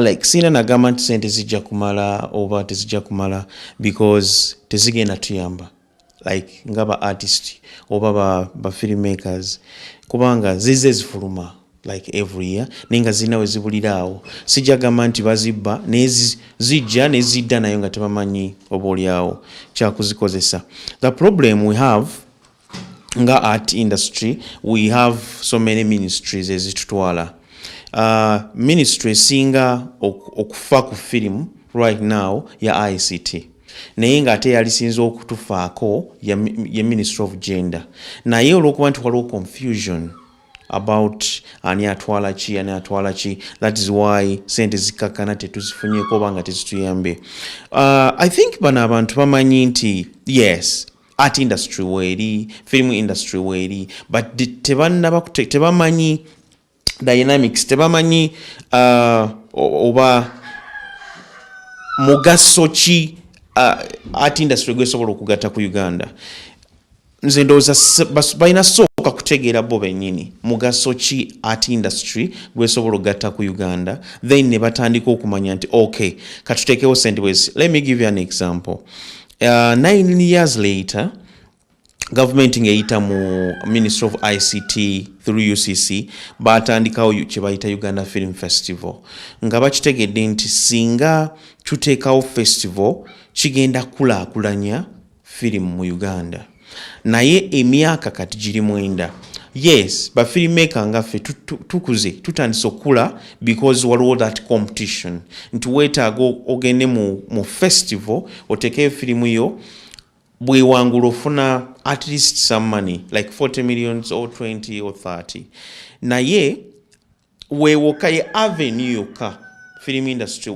like siina nagamba nti sente zijja kumala oba tezijja kumala because tezigenda tuyamba like nga ba artist oba ba, ba filmmakers kubanga zize zifuluma like every year naye nga zirina wezibulira awo sijja gamba nti bazibba naye zijja nezidda nayo nga tebamanyi oba olyawo kyakuzikozesa the problem we have nga art industry we have so many ministries ezitutwala uh, ministry esinga okufa ku firimu right now ya ict naye ng'ate yalisinza okutufaako ye ministry of gender naye olwokuba nti waliwo confusion about ani atwala ki ani atwala ki that is why sente zikakkana tetuzifunyeko oba nga tezituyambe uh, i think bano abantu bamanyi nti yes art industry weeri film industry weeri but tebannaba tebamanyi dynamics tebamanyi uh, oba mugaso ki uh, art industry gwesobola okugatta ku uganda nze ndowooza balina sooka kutegeera bo bennyini mugaso ki art industry gwesobola okugatta ku uganda then ne batandika okumanya nti ok katuteekewo sente bwezi let me give you an example Uh, nine years later gavumenti ng'eyita mu ministry of ict through ucc baatandikawo kye bayita uganda film festival nga bakitegedde nti singa tuteekawo festival kigenda kukulaakulanya firimu mu uganda naye emyaka kati giri mwenda yes bafirimaker nga ffe tukuze tutandise okukula because waliwo that competition nti weetaaga ogende mu, mu festival otekeyo firimu yo bwewangula ofuna at least some money like 40 millions or 20 or 30 naye wewoka ye avenue yokka film industry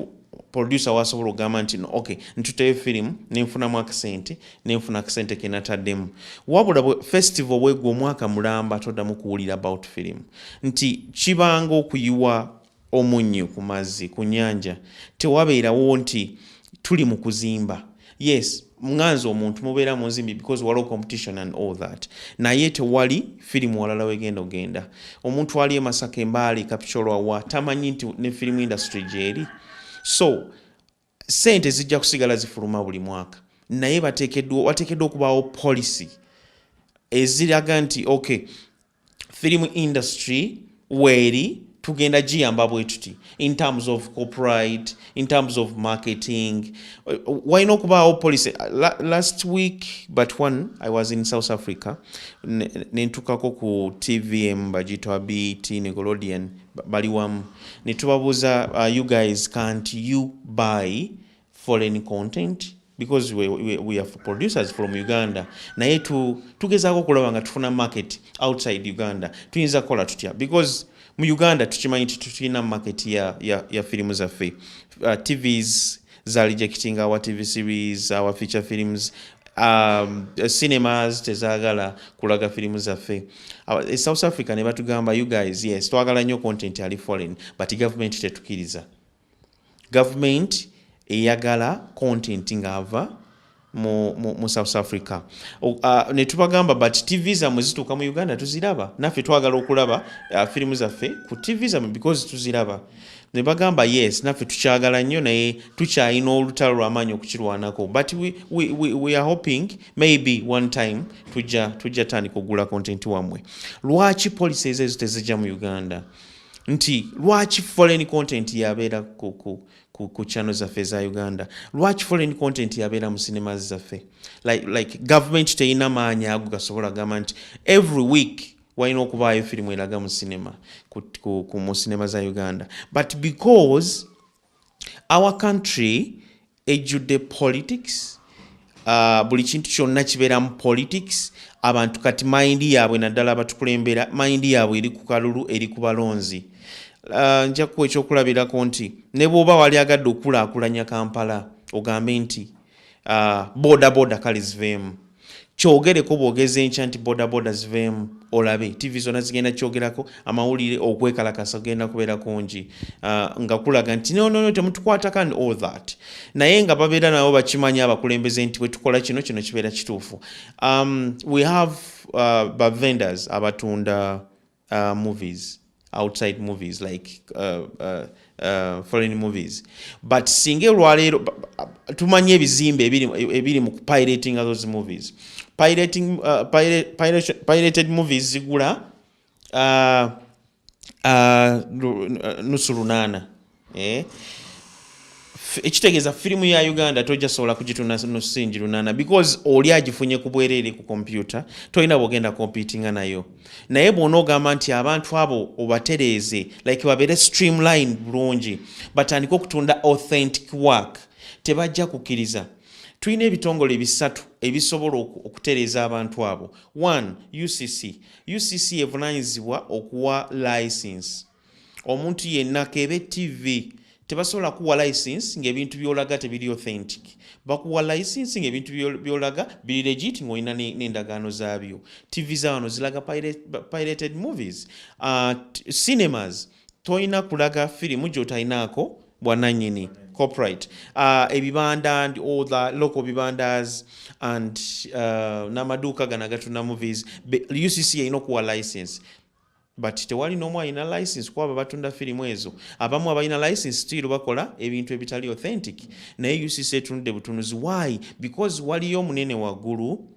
producer wasobola okugamba nti no okay ntuteyo firimu nenfunamu akasente nenfuna akasente kenataddemu wabula festival bwegwe omwaka mulamba toddamu kuwulira about firimu nti kibanga okuyiwa omunnyo ku mazzi ku nyanja tewabeerawo nti tuli mu kuzimba yes nganze omuntu mubeera munzimbi because waliwo competition and all that naye tewali firimu walala wegenda ogenda omuntu ali emasaka embaali kapicoloawa tamanyi nti ne firimu industry gyeri so sente zijja kusigala zifuluma buli mwaka naye wateekeddwa okubaawo policy eziraga nti okay film industry weeri tugenda giyamba bwetuti in terms of copyright in terms of marketing walina okubaawo policy last week but one i was in south africa nentukako ku tvm bagitwa bt nicolodean bali wamu netubabuuza uh, you guys can't you buy foreign content because we, we, we have producers from uganda naye tu, tugezaako okulaba nga tufuna market outside uganda tuyinza kukola tutya because mu uganda tukimanyi nti tulina market ya, ya, ya firimu zaffe uh, tvs za rejecting our tv series our feature films um, cinemas tezagala kulaga firimu zaffe e south africa ne batugamba you guys yes twagala nnyo content ali foreign but government tetukiriza government eyagala content ng'ava mu, mu, mu south africa uh, netubagamba but tv zamwe zituuka mu uganda tuziraba naffe twagala okulaba uh, firimu zaffe ku tv zamwe because tuziraba nebagamba yes naffe tukyagala nnyo naye tukyalina olutalo lwamaanyi okukirwanako but we, we, we, we are hoping maybe one time tujja tujja tandika okugula content wamwe lwaki policies ezo tezijja mu uganda nti lwaki foreign content yabeera ku, ku, ku, ku channel zaffe eza uganda lwaki foreign content yabeera mu cinema zaffe like, like government teyina maanyi ago gasobola gamba nti every week walina okubaayo firimu eraga mu cinema ku, ku, ku, mu cinema za uganda but because our country ejjudde politics uh, buli kintu kyonna kibeeramu politics abantu kati mayindi yaabwe naddala abatukulembera mayindi yaabwe eri ku kalulu eri ku balonzi uh, njakuwa ekyokulabirako nti ne bwoba wali agadde okulaakulanya kampala ogambe nti uh, boda boda kale ziveemu kyogereko bwogeza enkya nti bodaboda ziveemu olabe tv zona zigenda kyogerako amawulire okwekalakasa genda kubeera kungi uh, nga kulaga nti nonono temutukwatako and all that naye nga babeera nabo bakimanyi abakulembeze nti bwetukola kino kino kibeera kituufu um, we have uh, bavendors abatunda uh, movies outside movies like uh, uh, uh, foreign movies but singa olwaleero tumanyi ebizimbe ebiri mu pirating those movies pirating, uh, pirate, pirate, pirated movies zigula uh, uh, nusu lunaana eh? ekitegeeza firimu ya uganda tojja sobola kugituna nusingi lunana because oli agifunye ku bwereere ku kompyuta tolina bwogenda kompitinga nayo naye bwona ogamba nti abantu abo obatereeze like babeere streamline bulungi batandike okutunda authentic work tebajja kukkiriza tulina ebitongole bisatu ebisobola okutereeza abantu abo one ucc ucc evunanyizibwa okuwa license omuntu yenna kebe tv tebasobola kuwa license ngaebintu byolaga tebiri authentic bakuwa license ngaebintu byolaga biri legit ngaolina nendagaano zaabyo tv zawano zilaga pirated movies uh, cinemas tolina kulaga firimu gyotalinaako bwananyini copyright uh, ebibanda and all the local bibandas and uh, namaduuka gana gatuna movies ucc erina okuwa license but tewali nomu alina license kuba babatunda firimu ezo abamu abalina license still bakola ebintu ebitali authentic naye ucc etunudde butunuzi why because waliyo omunene waggulu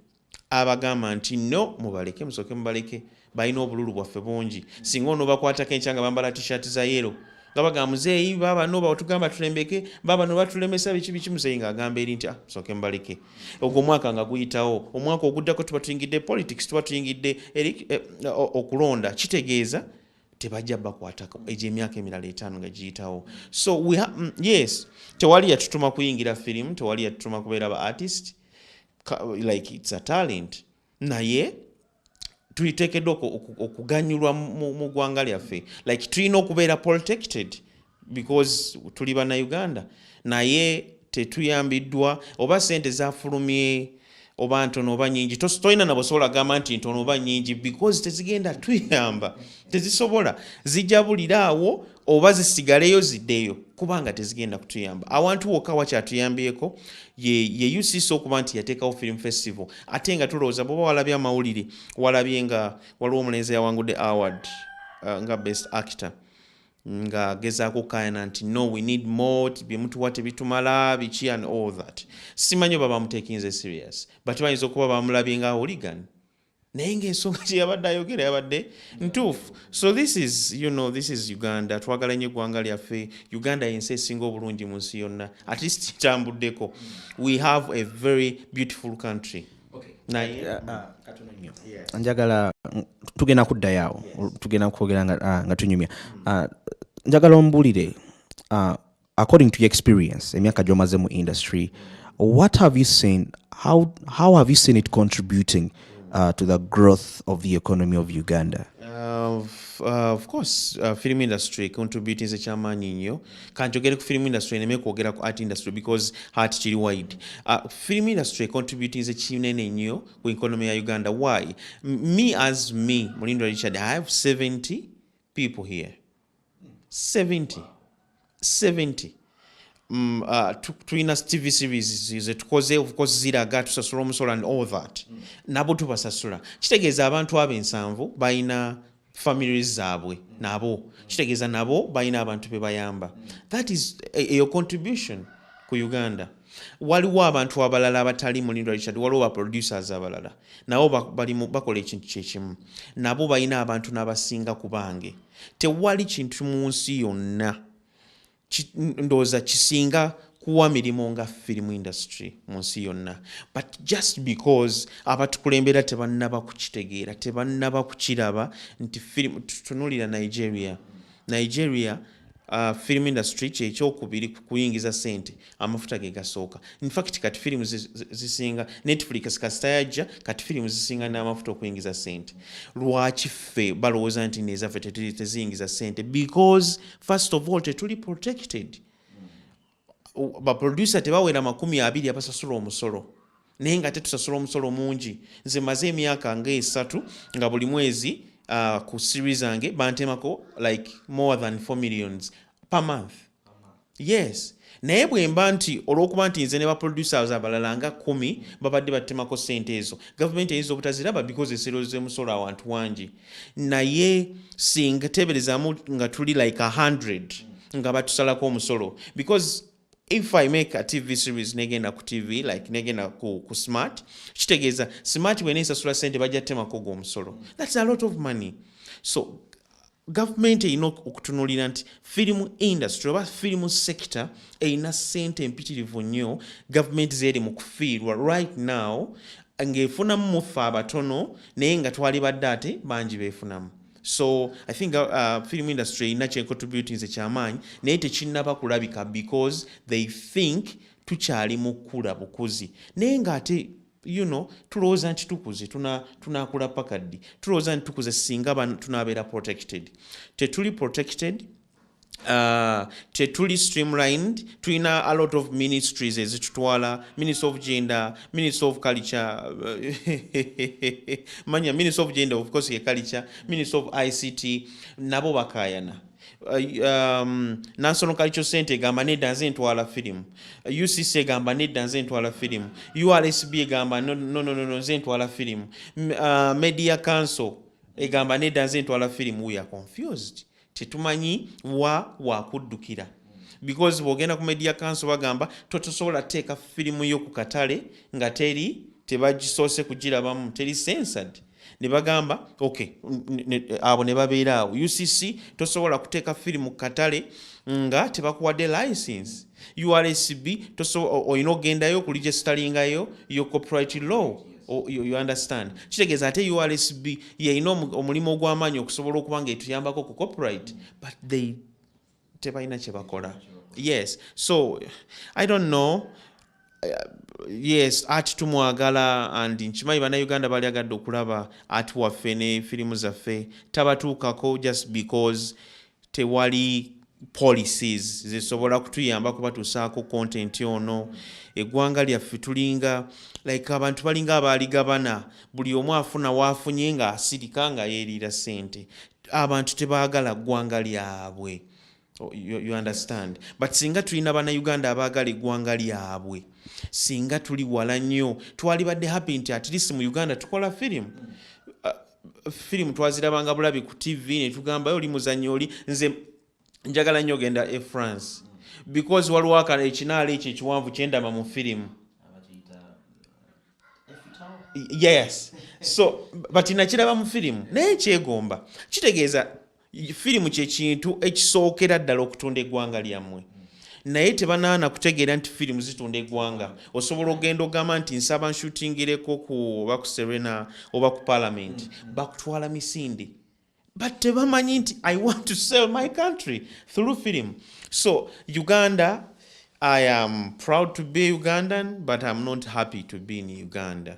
abagamba nti no mubaleke musoke mubaleke balina obululu bwaffe bungi singa onobakwatako enkyanga bambala tishati za yero nga bagamba muzeeyi baaba no batugamba tulembeke baaba no batulemesa biki biki muzeeyi ng'agamba eri nti ah, soke mbaleke ogwo omwaka nga guyitawo omwaka oguddako tuba tuyingidde politics tuba tuyingidde eri eh, okulonda kitegeeza tebajja bakwatako egyo emyaka emirala etaano nga giyitawo so we ha mm, yes tewali yatutuma kuyingira firimu tewali yatutuma kubeera ba artist like its a talent naye tuliteekeddwa okuganyulwa mu ggwanga lyaffe like tulina okubeera protected because tuli bannayuganda naye tetuyambiddwa oba sente zafulumye oba ntono oba nyingi tolina nabosobola gamba nti ntono oba nyingi because tezigenda tuyamba tezisobola zijabulira awo oba zisigaleyo zideyo kubanga tezigenda kutuyamba awantu wokka wakyatuyambyeko ye, ye ucc okuba nti yateekawo film festival ate nga tulowooza bwoba walabye amawulire walabye nga waliwo omulenzi yawangudde award uh, nga best actor nga gezaako okukayana nti no we need more byemutuwa tebitumala biki and all that simanyi oba bamutekinze serious but bayinza okuba bamulabye nga hooligan naye ngaensonga kyeyabadde ayogera yabadde ntuufu so this is you know this is uganda twagala nyo eggwanga lyaffe uganda yensi esinga obulungi mu nsi yonna at least kitambuddeko we have a very beautiful country naye ah, ah, ah, njagala tugenda kuddayoawo tugenda kwogera nga tunyumya njagala ombulire according to your experience emyaka gyomaze mu industry what have you seen how, how have you seen it contributing uh, to the growth of the economy of uganda uh, uh, of course uh, film industry contributing ekyamaanyi nnyo kanjogere ku film industry neme kwogera ku art industry because art kiri wide uh, film industry contributing ekinene nnyo ku economy ya uganda why me as me mulindo richard i have 70 people here 70 70 Mm, uh, tulina tv series zetukoze of course ziraga tusasula omusolo and all that mm. nabo tubasasula kitegeeza abantu abo ensanvu balina families zaabwe mm. nabo kitegeeza nabo balina abantu bebayamba mm. that is e, eyo contribution ku uganda waliwo abantu abalala abatali mulindo richard waliwo baproducers abalala nabo bakola ekintu kyekimu nabo balina abantu nabasinga ku bange ba tewali kintu mu nsi yonna ndowooza kisinga kuwa mirimu nga film industry mu nsi yonna but just because abatukulembera tebannaba kukitegeera tebannaba kukiraba nti film tutunulira nigeria nigeria Uh, film industry kyekyokubiri kuyingiza sente amafuta ge gasooka infact kati firimu zisinga netflix kasita yajja kati firimu zisinga n'amafuta okuyingiza sente lwaki ffe balowooza nti nezaffe teziyingiza sente because first of all tetuli protected baproducer tebawera makumi abiri abasasula omusolo naye nga ate tusasula omusolo mungi nze maze emyaka nga esatu nga buli mwezi uh, ku siri zange bantemako like more than 4 millions per month yes naye bwemba nti olwokuba nti nze ne baproducers abalala nga kumi babadde batemako sente ezo gavumenti eyinza obutaziraba because eserozemusolo awantu wangi naye singa teberezamu nga tuli like 100 nga batusalako omusolo because if i make a tv series negenda ku tv like negenda ku, ku smart kitegeeza smart bwena esasula sente bajja temako ogwo omusolo thats a lot of money so gavumenti erina okutunulira nti firimu industry oba firimu sector erina sente empitirivu nnyo gavumenti zeeri mu kufiirwa right now ng'efunamu mu ffe abatono naye nga twalibadde ate bangi beefunamu so i think uh, uh film industry erina kyecontributinze kyamaanyi naye tekinnaba kulabika because they think tukyali mu kukula bukuzi naye ng'ate you know tulowooza nti tukuze tunaakula tuna paka ddi tulowooza nti tukuze singa tunaabeera protected tetuli protected Uh, tetuli streamlined tulina a lot of ministries ezitutwala minister of gender minister of culture manya minister of gender of course ye culture minister of ict nabo bakayana Uh, um, national culture center egamba nedda nze ntwala firimu ucc egamba nedda nze ntwala firimu ursb egamba nononono nze ntwala firimu uh, media council egamba nedda nze ntwala firimu we are confused tetumanyi wa wakuddukira because bwogenda ku media council bagamba totosobola teeka firimu yo ku katale nga teri tebagisoose kugirabamu teri sensad ne bagamba ok abo ne babeera awo ucc tosobola kuteeka firimu ku katale nga tebakuwadde license ursb olina okugendayo okuligestalingayo yo copyright law Oh, you, you understand kitegeeza ate ursb yeyina omulimu ogw'amaanyi okusobola okuba nga etuyambako ku copyright but they tebalina kyebakola yes so i don't know uh, yes ati tumwagala and nkimanyi banauganda bali agadde okulaba ati waffe ne firimu zaffe tabatuukako just because tewali policies zisobola kutuyamba kubatusaako content ono eggwanga lyaffe tulinga like abantu balinga abaaligabana buli omu afuna waafunye nga asirika nga yeeriira sente abantu tebaagala ggwanga lyabwe Oh, you, you understand but singa tulina bannayuganda abaagala eggwanga lyabwe singa tuli wala nnyo twalibadde happy nti at least mu uganda tukola firimu uh, firimu twazirabanga bulabi ku tv netugamba oli muzanyi oli nze njagala nnyo ogenda e france because waliwo akana ekinaala ekyo ekiwanvu kyendama mu firimu yes so but nakiraba mu firimu naye kyegomba kitegeeza firimu kyekintu ekisookera ddala okutunda eggwanga lyammwe naye tebanaana kutegeera nti firimu zitunda eggwanga osobola okugenda ogamba nti nsaba nshutingireko ku oba ku serena oba ku palamenti bakutwala misinde but tebamanyi nti i want to sell my country through film so uganda i am proud to be ugandan but im not happy to be in uganda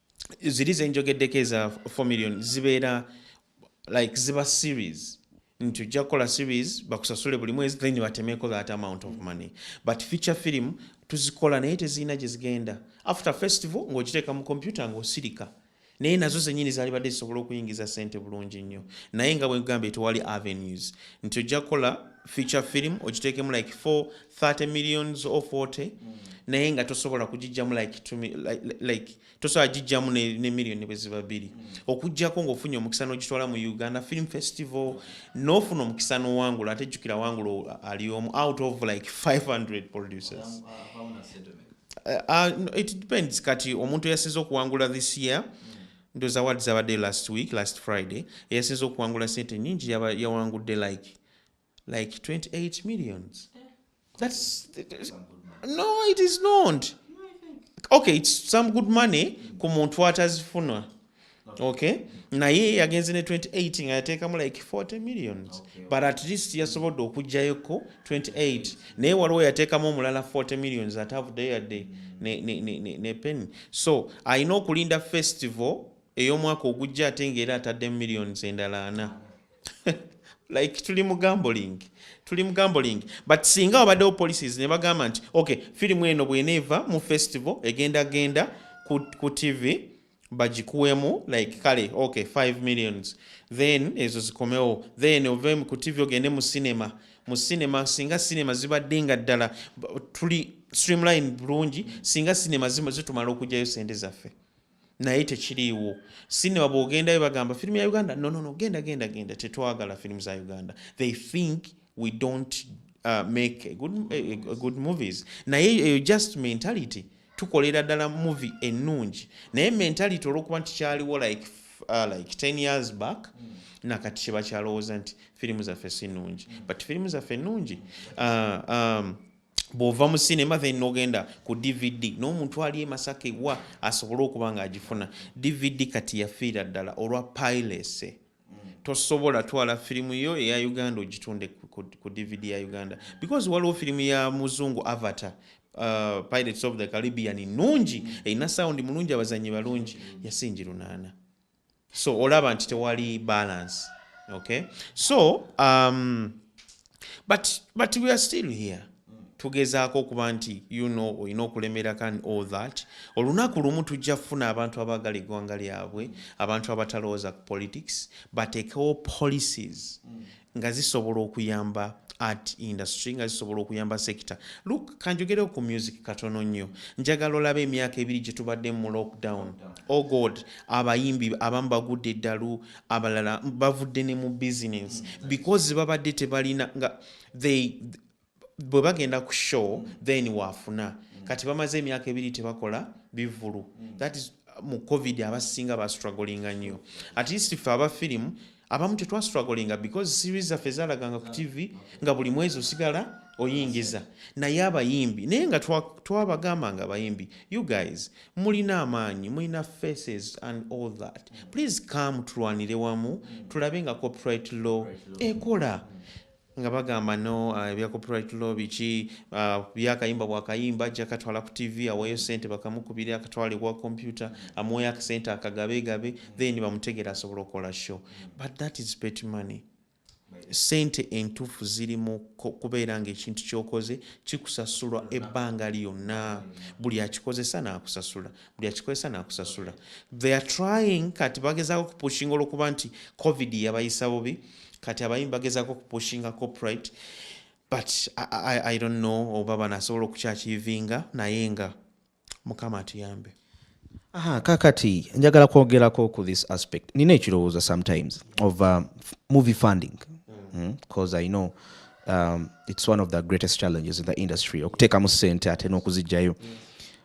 ziri zenjogeddeko eza 4 million zibeera like ziba series nti ojja kukola series bakusasule buli mwezi then batemeeko that amount of money but feature film tuzikola naye tezirina gye zigenda after festival ng'ogiteeka mu kompyuta ng'osirika naye nazo zenyini zalibadde zisobola okuyingiza sente bulungi nnyo naye nga bwegambye tewali avenues nti ojja kukola feature film ogitekemu like 4 30 millions or 40 mm. naye nga tosobola kugijjamu like, like, like tosobola gijjamu ne, ne million bweziba biri mm. okujjako ngaofunye omukisa nogitwala mu uganda film festival nofuna omukisa nowangula ate jjukira wangula ali omu out of like 500 producers uh, uh, it depends kati omuntu eyasinza okuwangula this year mm. ndoza wadi zabadde last week last friday eyasinza okuwangula sente nyingi yawangudde like like 28 millions that's no it is not okay it's some good money ku muntu atazifunwa okay naye yagenze ne 28 nga yateekamu like 40 millions but at least yasobodde okugjayoko 28 naye waliwo yateekamu omulala 40 millions atavudeyo yadde ne penny so alina okulinda festival ey'omwaka ogujja ate ngaera ataddemu millions endala ana like tuli mu gambling tuli mu gambling but singa wabaddewo policies ne bagamba nti ok firimu eno bweneeva mu festival egenda genda ku, ku tv bagikuwemu like kale ok 5 millions then ezo zikomewo then ove ku tv ogende mu cinema mu cinema singa cinema zibadde nga ddala tuli streamline bulungi singa cinema zitumala okugyayo sente zaffe naye tekiriiwo sinema bwogendayo bagamba firimu ya uganda nonono genda genda genda tetwagala firimu za uganda they think we don't uh, make a good, a, a good movies naye eyo just mentality tukolera ddala movie ennungi naye mentality olwokuba nti kyaliwo like, uh, like 10 years back mm. nakati kyebakyalowooza nti firimu zaffe si nnungi mm. but firimu zaffe nnungi uh, um, bw'ova mu cinema then nogenda ku dvd n'omuntu ali emasaka ewa asobole okuba nga agifuna dvd kati yafiira ddala olwa pilese mm. tosobola twala firimu yo eya uganda ogitunde ku dvd ya uganda because waliwo firimu ya muzungu avatar uh, pirates of the caribbean nungi mm. erina sound mulungi abazanyi balungi yasingi lunaana so olaba nti tewali balance okay so um, but, but we are still here tugezaako okuba nti you know olina okulemera kan all that olunaku lumu tujja kufuna abantu abaagala eggwanga lyabwe abantu abatalowooza ku politics bateekewo policies nga zisobola okuyamba art industry nga zisobola okuyamba sector look kanjogereo ku music katono nnyo njagala olaba emyaka ebiri gye tubadde mu lockdown o oh god abayimbi abamu bagudde eddalu abalala bavudde ne mu business because babadde tebalina nga they bwe bagenda ku show mm. then waafuna mm. kati bamaze emyaka ebiri tebakola bivulu mm. that is mu covid abasinga bastrugglinga nnyo at least ffe aba firimu abamu tetwastrugglinga because series zaffe zalaganga ku tv nga buli mwezi osigala oyingiza naye abayimbi naye nga twabagamba nga abayimbi you guys mulina amaanyi mulina faces and all that please come tulwanire wamu tulabe nga copyright law ekola nga bagamba no uh, ebya copyright law biki uh, byakayimba bwakayimba ajja katwala ku tv aweeyo sente bakamukubire akatwale kwa kompyuta amuweyo akasente akagabegabe then bamutegera asobola okukola show but that is pet money sente entuufu ziri mu kubeera ngaekintu kyokoze kikusasulwa ebbanga lyonna buli akikozesa naakusasula buli akikozesa nakusasula they are trying kati bagezaako kupushinga olwokuba nti covid yabayisa bubi kati abayimbi bagezaako kupushinga copyright but I, I, i don't know oba bano asobola okukyakiivinga naye nga mukama atuyambe Aha, kakati njagala kwogerako ku this aspect nina ekirowoozo sometimes of uh, movie funding because mm. mm, i know um, it's one of the greatest challenges in the industry okuteekamu sente ate n'okuzijjayo mm.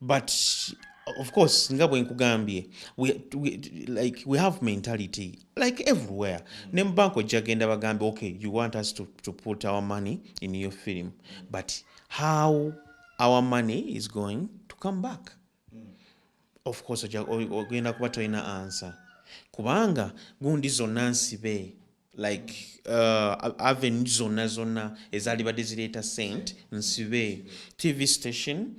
but of course nga bwenkugambye we, we, like we have mentality like everywhere mm. ne mubank ojja genda bagambe okay you want us to, to put our money in your film but how our money is going to come back mm. of course ogenda kuba tolina answer kubanga gundi zonna nsibe like uh, avenue zonna zonna ezalibadde zireeta sent nsibe tv station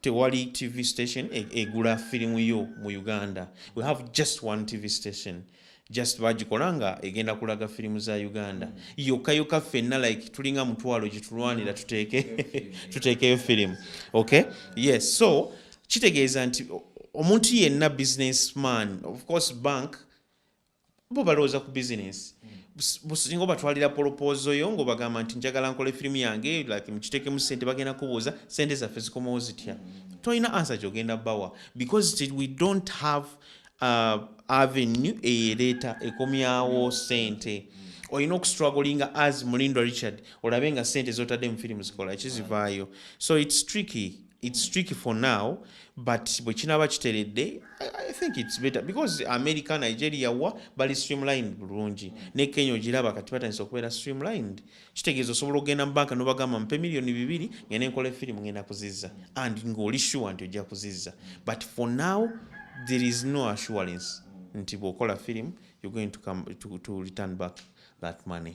tewali tv station e, egula firimu yo mu uganda we have just one tv station just bagikola nga egenda kulaga firimu za uganda mm. yokka yokka ffenna like tulinga mutwalo gyetulwanira tuteeke tuteekeyo firimu okay yes so kitegeeza nti omuntu yenna business man of course bank bo balowooza ku bizinensi singa obatwalira polopoozo yo ngaobagamba nti njagala nkola efirimu yange like mukitekemu sente bagenda kubuuza sente zaffe zikomawo zitya mm. tolina ansa gyogenda bawa because we don't have uh, avenue eyereeta ekomyawo mm. sente mm. olina okustragolinga as mulindo richard olabe nga sente zotadde mu firimu zikola kizivaayo so its tricky it's tricky for now but bwekinaba kiteredde i think it's better because america nigeria wa bali streamlined bulungi ne kenya ogiraba kati batandisa okubeera streamlined kitegeeza osobola okugenda mu banka nobagamba mpe miliyoni bibiri ngende nkola efirimu ngenda kuzizza and ngaoli sure nti ojja kuzizza but for now there is no assurance nti bwokola firimu you're going to, come, to, to return back that money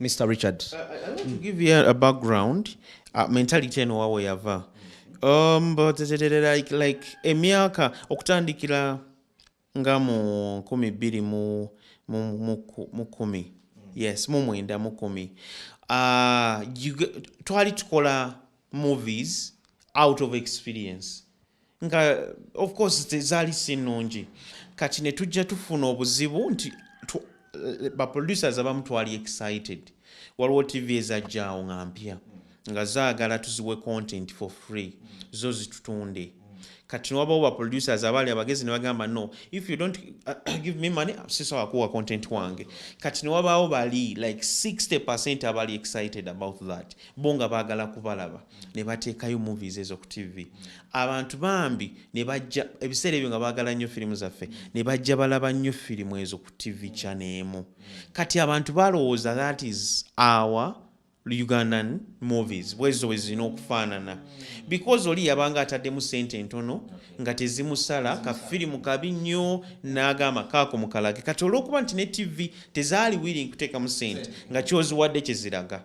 Mr. Richard. I, I want to give you a background. Uh, mentality eno wawe yava. Um, but like, like emyaka okutandikira nga mu nkumi bbiri mu mu kumi yes mu mwenda mu kumi uh, twali tukola movies out of experience nga of course tezaali si nnungi kati ne tujja tufuna obuzibu nti eh, baproducers abamu twali excited waliwo tv ezajjaawo nga mpya nga zaagala tuziwe content for free zo zitutunde mm. kati wabawo ba producers abaali abagezi ne bagamba no if you don't uh, give me money sisobola kuwa content wange kati ne wabaawo bali like 60 percent abali excited about that bo nga baagala kubalaba nebatekayo movies ezo ku tv abantu bambi nebajja ebiseera ebyo nga bagala nnyo firimu zaffe nebajja balaba nnyo firimu ezo ku tv kyaneemu kati abantu balowooza that is our ugandan movies bwezo bwezirina okufaanana because oli yabanga ataddemu sente entono nga tezimusala kafirimu kabi nnyo n'agamba kaako mukalage kati olwokuba nti ne tv tezaali wiiri nkuteekamu sente nga kyoziwadde kyeziraga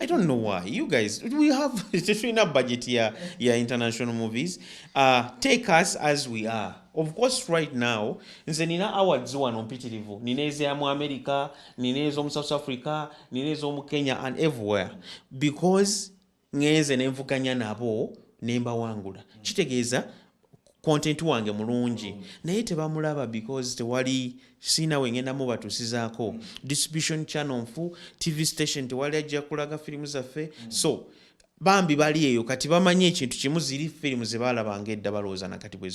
I don't know why you guys we have tetulina budget ya, ya international movies uh, take us as we are of course right now nze nina awards wano mpitirivu nina ezamu america nina ezomu south africa nina ezomu kenya and everywhere because ngenze nenvuganya nabo nembawangula kitegeeza content wange mulungi naye tebamulaba because tewali siina wengenda mubatusizaako distribution channel nfu tv station tewali ajja kulaga firimu zaffe so bambi bali eyo kati bamanyi ekintu kimu ziri firimu zebalabanga edda balowooza nakati bwezi